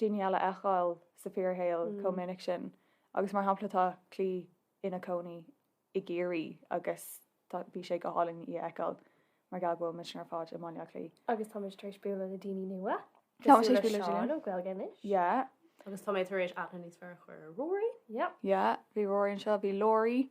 daoine eile a fheiceáil sa fíorshaol chomh minic sin. Agus mar shampla tá Clíth ina cónaí i gCiarraí agus bhí sé go hálainn í a fheiceáil mar gheall go bhfuil muidne ar fad i mBaile Átha Cliath. Agus tá muid tar éis bualadh le daoine nua, cosúil le Seán ó Gaeilge Anois. Yeah. Agus tá mé tar éis aithne níos fearr a chur ar Rory. Yeah. Yeah, bhí Rory anseo, bhí Rory.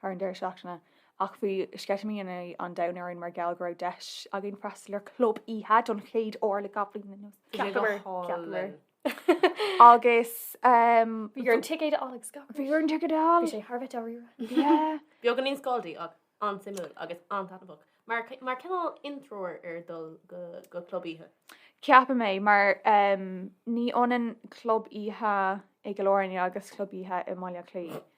thar an deireadh seachtaine ach bhí sceitimíní an domhain orainn mar gheall go raibh deis againn freastal ar chlub oíche don chéad uair le dhá bhliain anuas. Ceapaimar. Agus bhí ar an ticéid a fháil scoth. Bhí ar an ticéid a fháil. Bhí sé thar bheith dáiríre. Beag an líon scáiltí ach an-suimiúil agus an-taitneamhach. Mar cineál intreoir ar dul go club oíche? Ceapaim é mar ní ionann club oíche i gCill Airne agus club oíche i mBaile Átha Cliath.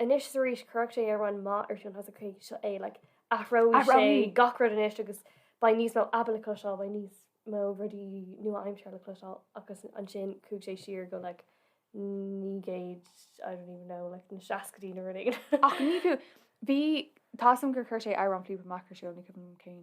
Anois is arís chuireadh sé amhrán maith ar siúl, tá sé, seo é, like, athróidh sé Athróidh. gach rud anois agus beidh níos mó ABBA le cloisteáil, beidh níos mó rudaí nua-aimseartha le cloisteáil agus ansin chuaigh sé siar go, like, 900, I don't even know, like, na seascaidí nó rud éigin. Ach ní fiú, bhí, tá's a'm gur chuir sé amhrán Fleetwood Mac ar siúl, ní chuimhin liom cén.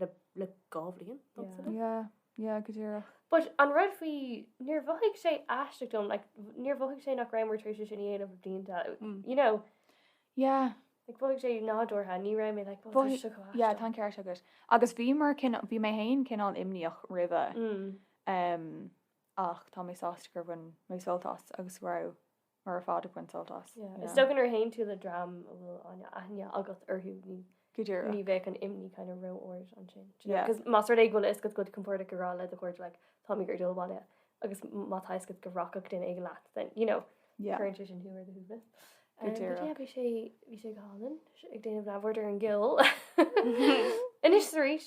le le dhá bhliain domsa le. Yeah, yeah, go díreach. But an rud faoi ná níor mhothaigh sé aisteach dom, like níor mhothaigh sé nach raibh muid tar éis sin a dhéanamh le blianta, you know. Yeah. Like mhothaigh sé nádúrtha, ní raibh mé like bá Bhothaigh- tuirseach Yeah, aisteach. tá an ceart agat. Agus bhíomar cin- bhí mé fhéin cineál imníoch roimhe, Mm. em, ach tá mé sásta gur bhain mé sult as agus go raibh muid ar fad ag baint sult as. Yeah. Is dócha nuair théann tú le dream a bhfuil an-aithne agat orthu ní Gidéar. ní bheadh an imní kind of ró-ard ansin. do you know? Yeah. 'Cause más rud é go bhfuil a fhios agat go bhfuil tú compordach ag rá le do chairde like tá mé ag dul abhaile agus má tá a fhios agat go rachadh duine éigin leat then you know Yeah. chuireann sé sin thú ar do shuaimhneas. Um, but deireadh. yeah, bhí sé bhí sé go hálainn ag déanamh neamhaird ar an gceol. Anois is arís.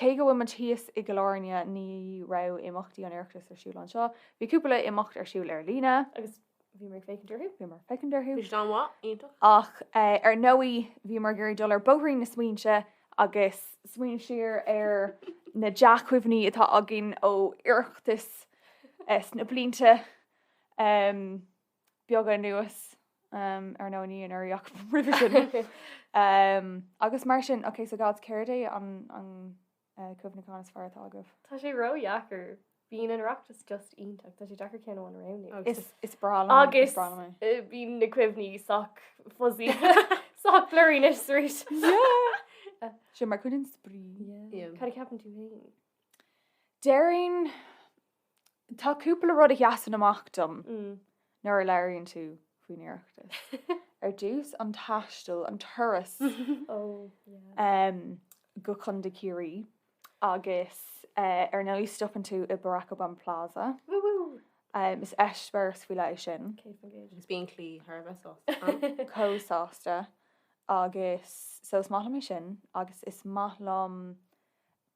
Cé go bhfuil muid thíos i gCill Áirne ní raibh imeachtaí an Oireachtais ar siúl anseo. Bhí cúpla imeacht ar siúl ar líne agus bhíomar ag féachaint orthu, bhíomar ag féachaint orthu. Bhí siad an-mhaith, iontach. Ach ar ndóigh bhíomar ag iarraidh dul ar bóithrín na smaointe agus smaoineamh siar ar na dea-chuimhní atá againn ó Oireachtas na mblianta. beag anuas ar an Oireachtas roimhe sin. Agus mar sin, ok, so gals céard é an cuimhneachán is fearr atá agaibh? Tá sé ródheacair. Bíonn an tOireachtas just iontach, tá sé deacair ceann amháin a roghnú. Is is breá liom, agus is breá liom é. Eh, bíonn na cuimhní sách fuzzy, sách blurry anois arís. Yeah! Sin mar chuid den spraoi. Yeah. Yeah. Cad a cheapann tú féin? Déarfainn Tá cúpla rud a sheasann amach dom nuair a labhraíonn tú faoin Oireachtas. Ar dtús, an taisteal, an turas go Contae Ciarraí agus ar ndóigh stopann tú i Barack Obama Plaza. Is eispéireas faoi leith é sin. Agus bíonn Clí thar a bheith sásta. Chomh sásta agus, so is maith liom é sin agus is maith liom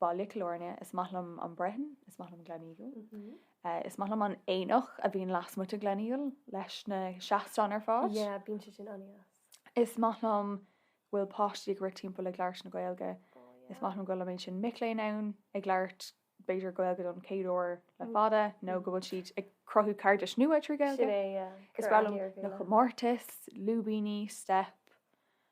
Baile Chill Airne, is maith liom an Brehon, is maith liom Gleneagle. Is maith liom an t-aonach a bhíonn lasmuigh de Gleneagle leis na seastáin ar fad. Yeah, bíonn siad sin an-deas. Is maith liom go bhfuil páistí ag rith timpeall ag labhairt na Gaeilge. Is maith liom go bhfuil an méid sin mic léinn ann ag labhairt, b'fhéidir, Gaeilge don chéad uair le fada nó go bhfuil siad ag cruthú cairdis nua trí Ghaeilge. Sin é, yeah. Is breá liom na comórtais, lúibíní, steip,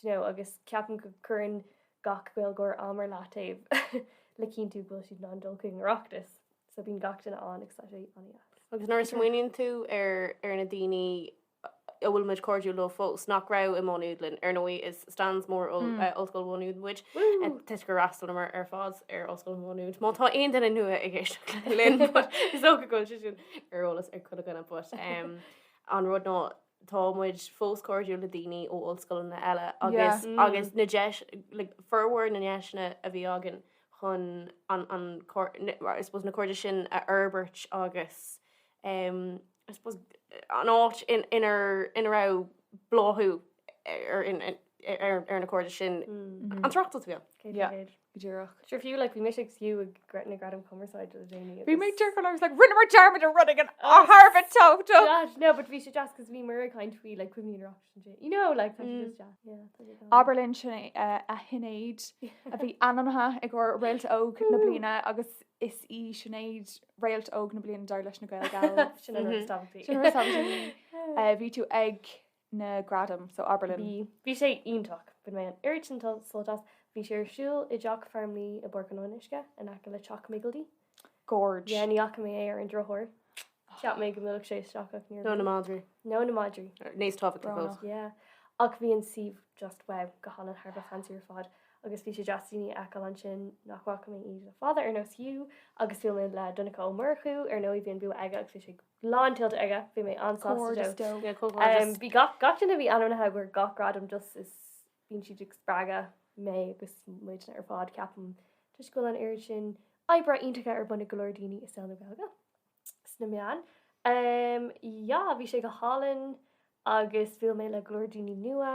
Do you know, agus ceapaim go gcuireann gach Gaeilgeoir am ar leataobh le cinntiú go bhfuil siad in ann dul chuig an Oireachtas, so bíonn gach duine ann agus tá sé an-deas. Agus nuair a smaoiníonn tú ar ar na daoine a bhfuil muid cairdiúil leo fós, nach raibh i Má Nuad linn, ar ndóigh is stans mór Ollscoil Mhá Nuad muid, toisc gur fhreastalaíomar ar fad ar Ollscoil Mhá Nuad. Má tá aon duine nua ag éisteacht linn, is dócha go bhfuil sé sin ar eolas ag chuile dhuine, but an rud ná tá muid fós cairdiúil le daoine ó ollscoileanna eile agus agus na deiseanna like, formhór na ndeiseanna a bhí againn chun an, an cor- na- I suppose, na cairde sin a fhorbairt agus um, I suppose, an áit in, inar, inar raibh bláthú ar, ar, in- ar, ar, ar na cairde sin an tOireachtas ab ea. Céad Yeah. faoin gcéad. go díreach. Sure fiú like bhí mise ag siúl ag ag na gradaim cumarsáid le déanaí Bhí mé dear gan agus le rinne mé dearmad a running an átharbh an teochtta. No, but bhí sé deas cos bhíomar ag caint faoi le cuimín rochtain sé you know like tá sé deas deas. Abair linn faoi sin a Shinéad a bhí ainmnithe i gcomhair Réalt Óg na Bliana agus is í Sinéad Réalt Óg na Bliana dar leis na Gael Gals. Sin an rud is tábhachtaí. Bhí tú ag na gradaim so abair linn. Bhí sé iontach. Bhain mé an oiread sin sult as. Bhí sé ar siúl i dteach Farmleigh i bPáirc an Fhionnuisce in aice le teach Miggledy. Gorge. Yeah, ní fhaca mé é ar an drochuair. Cheap mé go mbeadh sé isteach ach níor. Nó na madraí. Nó na madraí. Níos tábhachtaí fós. Yeah. Ach bhí an suíomh just wow, go hálainn thar a bheith fancy ar fad. Agus bhí sé deas daoine a fheiceáil ansin nach bhfaca mé iad le fada ar nós Hugh agus bhí mé le Donncha Ó Murchú, ar ndóigh bhí an bua aige agus bhí sé go. lán tuilte aige, bhí mé an-sásta dó. Comhghairdeas dó. Comhghairdeas. Bhí gach, gach duine a bhí ainmnithe ar gach gradam just is bíonn siad ag spreagadh mé agus muidne ar fad, ceapaim, toisc go bhfuil an oiread sin oibre iontacha ar bun ag go leor daoine i saol na Gaeilge sna meáin. Umm, yeah, bhí sé go hálainn agus bhuail mé le go leor daoine nua.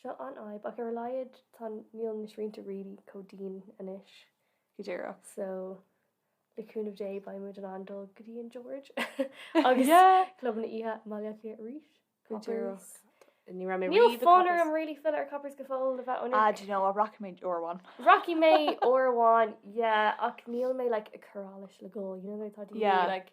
Seo an fhadhb, ach ar a laghad tá, níl na srianta really chomh dian anois go díreach, so le cúnamh Dé beidh muid in ann dul go dtí an George agus yeah clubanna oíche i mBaile Átha Cliath arís go díreach. Ní raibh mé really Níl fonn orm really filleadh ar Coppers go fóill le bheith ionraic. Ah do you know, rachaidh mé uair amháin. Rachaidh mé uair amháin yeah, ach níl mé like ag cur allais le dhul, you know the way tá daoine yeah like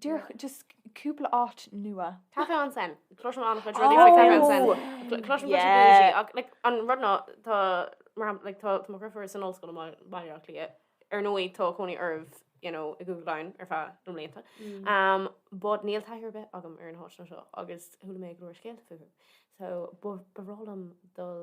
Díreach just cúpla áit nua. Café en Seine. Cloisim an-chuid rudaí faoi Café en Seine. Oh, Cloisim go yeah. bougie. Ach like, an rud ná tá mar shampla like, tá tá mo dheartháir san ollscoil i mBaile Baile Átha Cliath. Ar ndóigh tá cónaí oraibh you know, i gCúige Laighean ar feadh na mblianta. Um, but níl taithí ar bith agam ar na háiteanna seo agus chuala mé go leor scéalta fúthu. So ba ba bhreá liom dul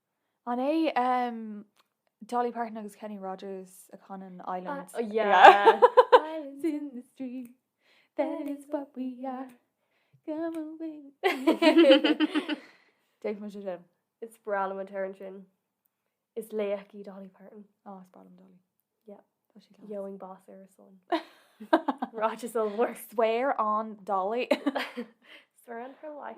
An é Dolly Parton agus Kenny Rogers a chanann Island? Oh yeah. Islands in the stream, that is what we are. Come away. Déanfaidh muid sé sin. Is breá le muid an t-amhrán sin. Is laoch í Dolly Parton. Á, is breá liom Dolly. Yeah. Tá sí class. Yowing boss ar a son. Ráite so bhar. Swear on Dolly. Swear on her life.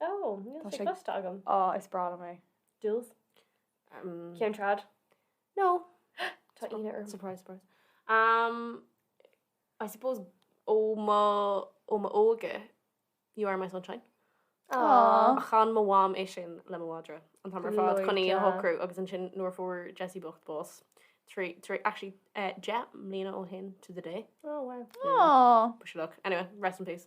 Ó, níl sé cloiste agam. Á, is breá liom é. Duals? Cén trad? No. Tá ionadh orm. Surprise, surprise. Um, I suppose ó mo ó mo óige You Are My Sunshine. Aww. A chan mo mham é sin le mo mhadra an t-am ar fad chun í a shocrú agus ansin nuair a fuair Jessie bocht bás trí trí actually uh, deich mbliana ó shin to the day. Oh wow. Aww. Bush luck. Anyway, rest in peace.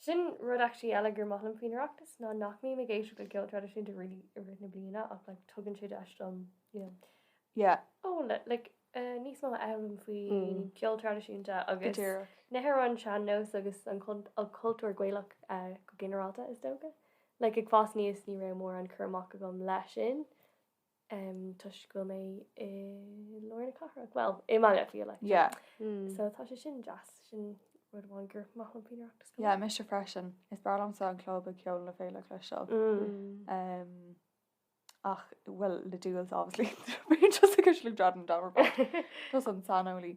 Sin rud actually eile gur maith liom faoin Oireachtas ná nach mbím ag éisteacht le ceol traidisiúnta really i rith na bliana ach like tugann sé deis dom you know Yeah. foghlaim like eh, níos mó a fhoghlaim faoi Mm. ceol traidisiúnta Go agus díreach. na hamhráin sean-nóis agus an cul- an cultúr Gaelach eh, go ginearálta is dócha. Like ag fás aníos ní raibh mórán cur amach agam leis sin. um, toisc go raibh mé i lár na cathrach well i mBaile Átha Cliath yeah mm. so tá sé sin deas sin rud amháin gur maith liom faoin Oireachtas yeah mise freisin is breá liomsa an club ceoil na féile leis seo mm. um, ach well le dúil obviously just go slú dra an da tá's an sanolí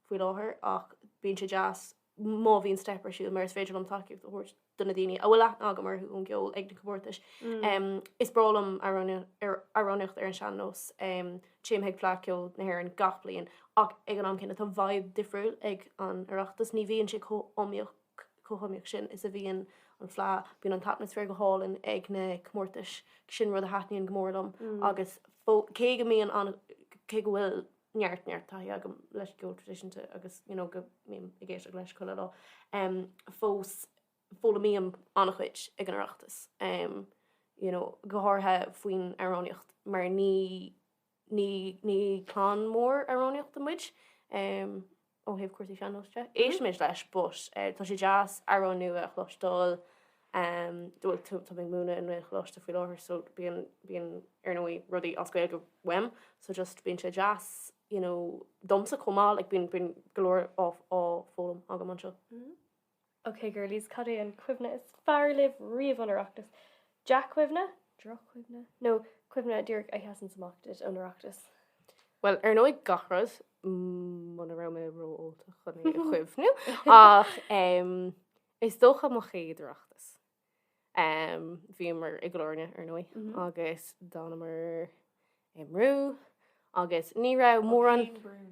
faoi láthair ach bíonn sé deas má bhíonn stuif ar siúl mar is féidir liom tacaíocht a thabhairt do na daoine a bhfuil aithne agam orthu ón gceol ag na comórtais. Mm. Is breá liom amhránaíocht ar an sean-nós. Téim chuig Fleadh Ceoil na hÉireann gach bliain ach ag an am céanna tá vibe difriúil ag an Oireachtas. Ní bhíonn sé chomh hiomaíoch sin is a bhíonn an Fleadh. Bíonn an t-atmaisféar go hálainn ag na comórtais. Sin rud a thaitníonn go mór liom mm. agus cé go mbíonn an cé go bhfuil neart neart taithí agam leis an gceol traidisiúnta agus you know go mbím ag éisteacht leis chuile lá um, fós foghlaimím an-chuid ag an Oireachtas um, you know, go háirithe faoin amhránaíocht mar ní ní ní clann mór amhránaíochta muid um, ó thaobh cúrsaí sean-nóis de. Éistimid leis but eh, tá sé deas amhrán nua a chloisteáil um, well, tá mé ag múineadh i nGaelcholáiste faoi láthair so bíonn bíonn ar ndóigh rudaí as Gaeilge uaim so just bíonn sé deas you know, domsa chomh maith like, bíonn bíonn go leor á á foghlaim agam anseo. OK girlies, cad é an chuimhne is fearr libh riamh ón Oireachtas? Dea-chuimhne? Droch-chuimhne? Nó cuimhne díreach a sheasann amach duit ón Oireachtas? Bhuel, ar ndóigh gach rud, muna raibh mé ró-ólta chun é a chuimhniú, ach is dócha mo chéad Oireachtas. Bhíomar i gCill Airne, ar ndóigh, agus d'fhanamar i mbrú agus ní raibh mórán brú ann.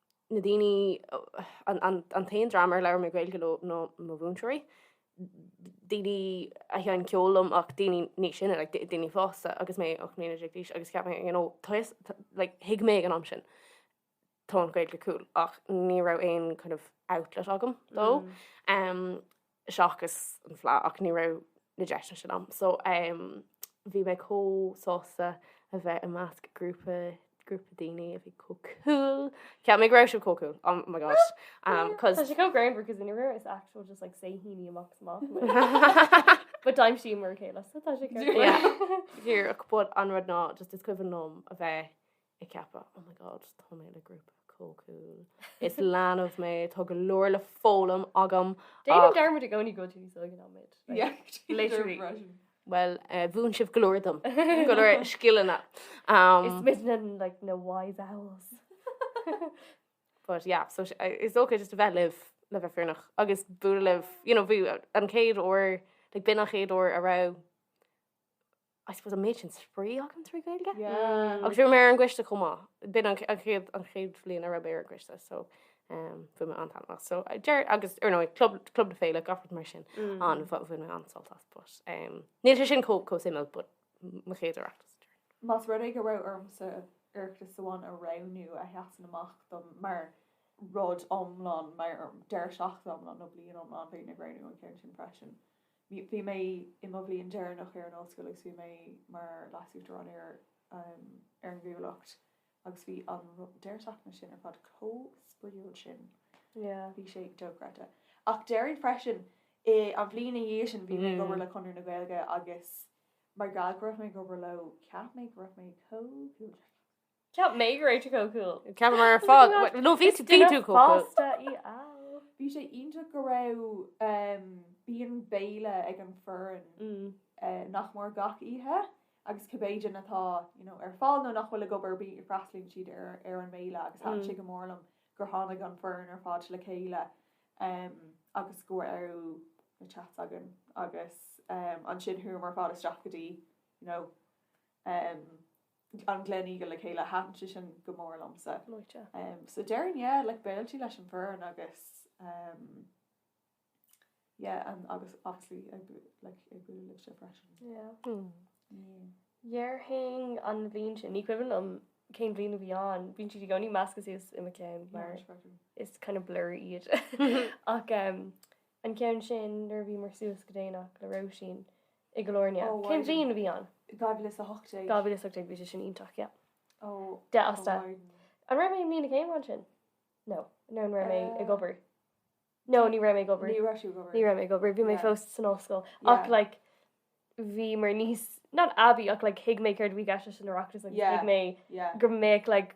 na daoine, an t-aon dream ar labhair mé Gaeilge leo ná mo mhúinteoirí, daoine a sheinn ceol liom ach daoine níos sine, like daoine fásta agus mé ocht mbliana déag d'aois agus cheap mé, you know, tá, like thuig mé ag an am sin tá an Ghaeilge cool ach ní raibh aon kind of outlet agam dó. seachas an Fleadh ach ní raibh na deiseanna sin ann so um, bhí mé chomh sásta a bheith i measc grúpa grúpa daoine a bhí chomh cool cheap mé go raibh sibh chomh cool oh my gosh um, cos she go grand because in her is actual just like say heeny amok small but time she mar chéile so tá sé yeah here but an rud ná just is cuimhin liom a bheith ag ceapadh oh my god tá mé le grúpa chomh cool is leanbh mé tá go leor le foghlaim agam David Dermot ag only go to so you know mid literally well eh, mhúin sibh go leor dom go leor scilanna um, it's missing like no wise owls but yeah so eh, is dócha just a bheith libh le bheith fírinneach agus bualadh libh you know bhí an chéad uair like b'in an chéad uair a raibh I suppose an méid sin spraoi agam trí Gaeilge. Yeah. Agus bhí mé ar an gcoiste chomh maith. B'in an ch- an chéad an chéad bhliain a raibh mé ar an gcuiste so um, bhí mé an-tógtha. So yeah agus ar ndóigh club club na féile gach rud mar sin Mm. an bfu- bhfuil mé an-sult as but um, níl sé sin chomh chomh suimiúil but m- mo chéad Oireachtas. Más rud é go raibh ormsa Oireachtas amháin a roghnú a sheasann amach dom mar rud iomlán mar deireadh seachtaine iomlán nó bliain iomlán bheinn ag roghnú an ceann sin freisin. Bhí mé i mo bhliain deireanach ar an ollscoil agus bhí mé mar leasuachtarán ar an gCuallacht agus bhí an deireadh seachtaine sin ar fad chomh spraíúil sin. Bhí sé dochreidte. Ach déarfainn freisin, an bhliain ina dhiaidh sin, bhí mé ag obair le Conradh na Gaeilge agus mar gheall go raibh mé ag obair leo, cheap mé go raibh mé chomh cool leis. Cheap mé go raibh tú chomh cool. Cheapamar ar fad. No bhí tú bhí tú fásta like. Bhí sé iontach go raibh um, bíonn béile ag an bhfoireann mm. uh, nach mór gach oíche agus cibé duine atá you know, ar fáil nó nach bhfuil ag obair freastalaíonn siad ar, ar an mbéile agus thaitin sé go mór liom gur tháinig an fhoireann ar fad le chéile um, agus go raibh na chats againn agus um, ansin chuamar ar fad isteach go dtí you know, um, an Gleneagle le chéile, thaitin sé sin go mór liomsa. Maith thú. So déarfainn yeah like béilí leis an bhfoireann agus um yeah and agus obviously ag bu- like ag bualadh libhse freisin. Yeah. Déarfainn an bhliain sin, ní cuimhin liom cén bhliain a bhí ann, bíonn siad i gcónaí measctha suas i mo cheann mar is kind of blur iad ach um An ceann sin nuair a bhíomar suas go déanach le Róisín i gCill Airne. Oh, Cén bhliain a bhí ann? 2018. 2018, bhí sé sin iontach, yeah. Oh, Dé Aoine. An raibh mé i mbliain na céim ansin? No. No, ní raibh mé ag obair. No, ní raibh mé ag obair. Ní raibh tú ag obair. Ní raibh mé ag obair, bhí mé fós san ollscoil. Ach like bhíomar níos, not aibí, ach like thuig mé céard a bhí i gceist leis an Oireachtas agus thuig mé go mbeadh like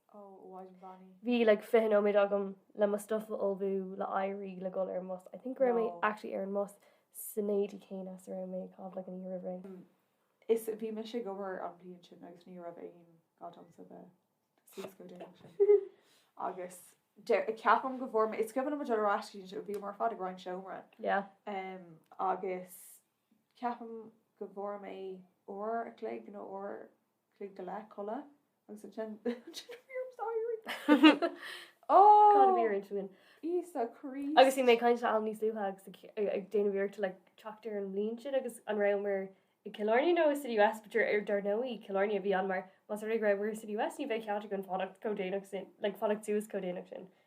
bhí like 20 nóiméad agam le mo stuff a ullmhú le éirí le dul ar an mbus. I think go raibh mé actually ar an mbus sna héadaí céanna as a raibh mé ag caitheamh an oíche roimh ré. Is bhí mise ag obair an bhliain sin agus ní raibh aon gá domsa a bheith suas chomh déanach sin. Agus ceapaim go bhfuair mé, is cuimhin liom an dul ar ais go dtí an seomra, bhíomar ar fad ag roinnt seomra. Yeah. Agus Ceapaim go bhfuair mé uair an chloig nó uair an chloig go leith codladh agus ansin ansin bhí ormsa éirí. Cad a bhí ar Oh! intinn againn? Íosa Críost. Agus bhí mé ag caint le Al níos luaithe agus ag ag ag déanamh iarrachta like teacht ar an mbliain sin agus an rabhamar i Cill Airne nó i City West but dar dar ndóigh Cill Airne a bhí ann mar más rud é go rabhamar i City West ní bheadh cead againn fanacht chomh déanach sin like fanacht suas chomh déanach sin.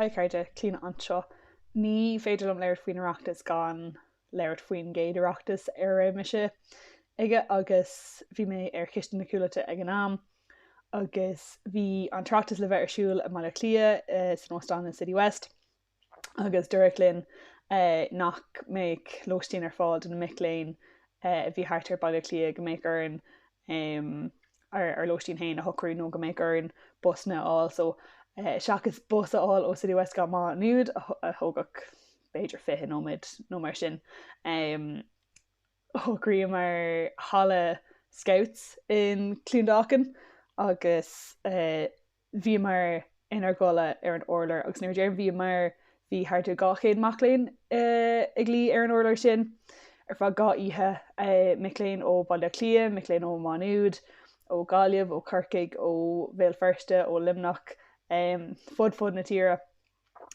Haigh Chairde, Clíona Anseo, Ní féidir liom labhairt faoin Oireachtas gan labhairt faoin gcéad Oireachtas ar a raibh mise aige agus bhí mé ar choiste na Cuallachta ag an am agus bhí an tOireachtas le bheith ar siúl i mBaile Átha Cliath san óstán City West agus dúradh linn nach mbeadh lóistín ar fáil do na mic léinn a bhí thart ar Bhaile Átha Cliath go mbeadh orainn ar ar lóistín féin a shocrú nó go mbeadh orainn busanna a fháil so seachas bus a fháil ó City West go Maigh Nuad a thógadh b'fhéidir fiche nóiméad nó mar sin shocraíomar halla Scouts i gCluain Dolcáin agus Bhíomar inár gcodladh ar an urlár agus nuair a deirim bhíomar, bhí thart ar 200 mac léinn ag luí ar an urlár sin ar feadh dhá oíche, mic léinn ó Bhaile Átha Cliath, mic léinn ó Mhá Nuad, ó Ghaillimh, ó Chorcaigh, ó Bhéal Feirste, ó Luimneach, fud fud na tíre.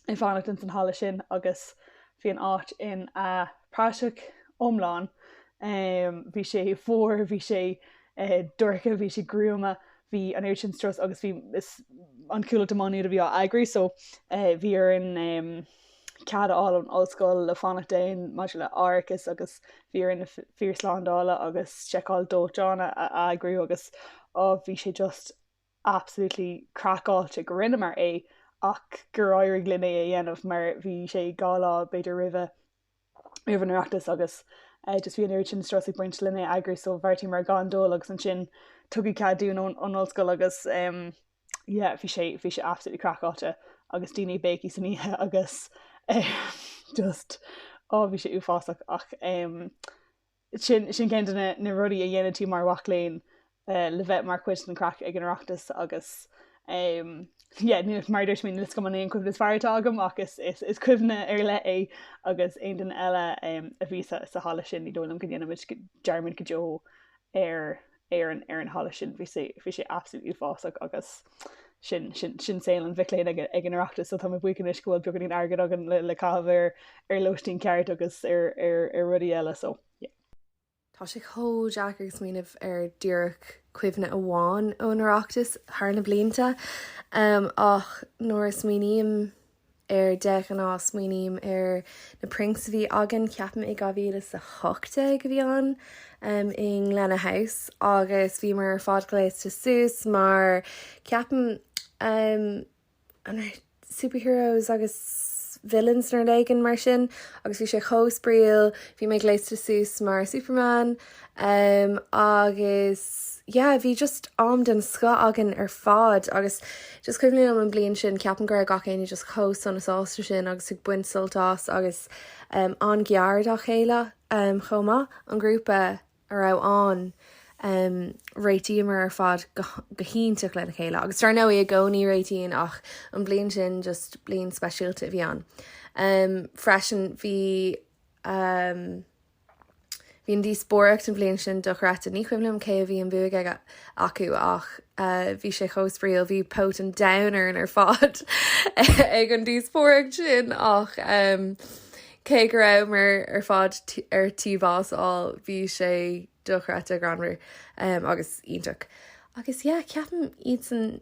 ag fanacht ins an halla sin agus bhí an áit ina praiseach iomlán, bhí sé fuar, bhí sé dorcha, bhí sé gruama, bhí an oiread sin strus agus bhí is an Chuallacht i Má Nuad a bhí á eagrú so bhí orainn cead a fháil ón ollscoil le fanacht ann maidir le árachas agus bhí orainn na fir slándála agus seiceáil dóiteáin a eagrú agus á bhí sé just absolutely craiceáilte go rinneamar é agus gur éirigh linn é a dhéanamh mar bhí sé dhá lá b'fhéidir roimhe roimh an Oireachtas agus eh, just bhí an oiread sin strus ag baint lena eagrú so bheartaíomar gan dul agus ansin tugadh cead dúinn ón ón ollscoil agus em, yeah, bhí sé bhí sé absolutely craiceáilte agus daoine ag béicíl san oíche agus eh, just á bhí sé uafásach ach em, Sin sin ceann de na rudaí a dhéanann tú mar mhac léinn le bheith mar chuid den chraic ag an Oireachtas agus yeah ní mar a dúirt mé níl a fhios agam an é an cuimhne is fearr atá agam ach is is cuimhne ar leith é agus aon duine eile a bhí sa halla sin ní dóigh liom go ndéanfaimid dearmad go deo ar éinne ar an halla sin. Bhí sé bhí sé absolutely uafásach agus sin sin sin saol an mhic léinn ag ag an Oireachtas so tá mé buíoch anois go bhfuil beagáinín airgid againn le le caitheamh ar ar lóistín ceart agus ar ar ar rudaí eile so yeah. Tá sé chomh deacair ag smaoineamh ar díreach cuimhne amháin ón Oireachtas thar na blianta um ach nuair a smaoiním Ar de ghnáth smaoiním ar na prinks a bhí againn, ceapaim i 2018 a bhí ann, i nGlena House agus bhíomar ar fad gléasta suas mar ceapaim superheroes agus villains nó rud éigin mar sin agus bhí sé chomh spraoiúil, bhí mé gléasta suas mar Superman. Umm agus yeah bhí just am den scoth againn ar fad agus just cuimhin liom an bliain sin ceapaim go raibh gach éinne just chomh sona sásta sin agus ag baint sult as agus umm an-ghar dá chéile umm chomh maith. An grúpa a raibh ann umm réitíomar ar fad go go hiontach lena chéile agus dar ndóigh i gcónaí réitíonn ach an bliain sin just bliain speisialta a bhí ann. Umm freisin bhí umm. Bhí an díospóireacht an bhliain sin dochreidte. Ní cuimhin liom cé a bhí an bua ag acu ach bhí sé chomh spraíúil, bhí póit an domhain orainn ar fad ag an díospóireacht sin ach cé go rabhamar ar fad ar tí bás a fháil, bhí sé dochreidte greannmhar agus iontach. Agus yeah, ceapaim iadsan.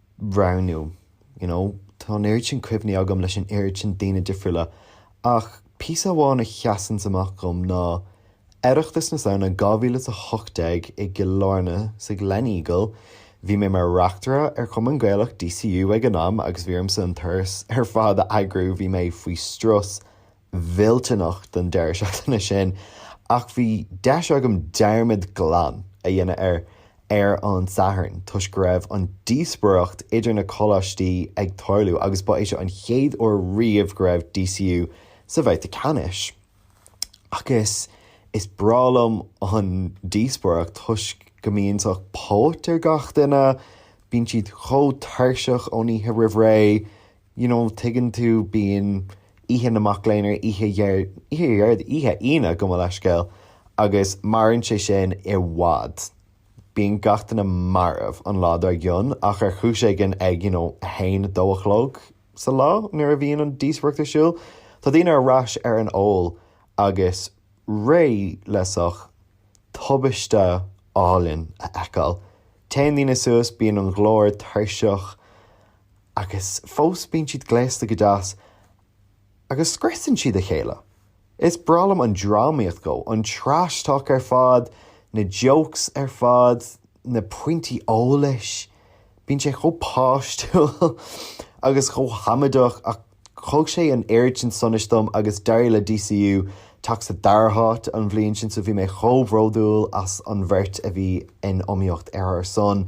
roghnú. You know, tá an oiread sin cuimhní agam leis an oiread sin daoine difriúla ach píosa amháin a sheasann amach dom ná Oireachtas na Samhna 2018 i gCill Airne, sa Gleneagle. Bhí mé mar reachtaire ar Chumann Gaelach DCU ag an am agus bhí ormsa an turas ar fad a eagrú. Bhí mé faoi strus millteanach don deireadh seachtaine sin ach bhí deis agam dearmad glan a dhéanamh air ar an Satharn toisc go raibh an díospóireacht idir na coláistí ag tarlú agus ba é seo an chéad uair riamh go raibh DCU sa bhabhta ceannais agus is breá liom an díospóireacht toisc go mbíonn an-phóit ar gach duine, bíonn siad chomh tuirseach ón oíche roimh ré. you know tuigeann tú bíonn oíche na mac léinn ar oíche Dhéard, oíche Dhéard, oíche Aoine go mo leithscéal agus maireann sé sin i bhfad bíonn gach duine marbh an lá dár gcionn ach ar chúis éigin ag you know a haon, a dó a chlog sa lá nuair a bhíonn an díospóireacht ar siúl tá daoine ar ais ar an ól agus réidh leis an tubaiste álainn a fheiceáil. Téann daoine suas, bíonn a nglór tuirseach, Agus fós bíonn siad gléasta go deas agus scriosann siad a chéile. Is breá liom an drámaíocht dó, an trash talk ar fad, na jokes ar fad, na pointí eolais. Bíonn sé chomh páistiúil agus chomh hamaideach ach thug sé an oiread sin sonais dom agus d'éirigh le DCU teacht sa dara háit an bhliain sin so bhí mé chomh bródúil as an bheirt a bhí in iomaíocht ar ár son.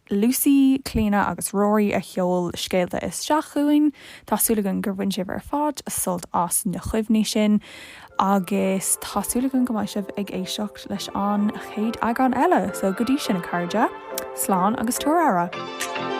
Lucy, Clíona agus Rory a sheol scéalta isteach chugainn. Tá súil againn gur bhain sibh ar fad sult as na cuimhní sin agus tá súil againn go mbeidh sibh ag éisteacht leis an chéad eagrán eile, so go dtí sin a chairde, slán agus tabhair aire!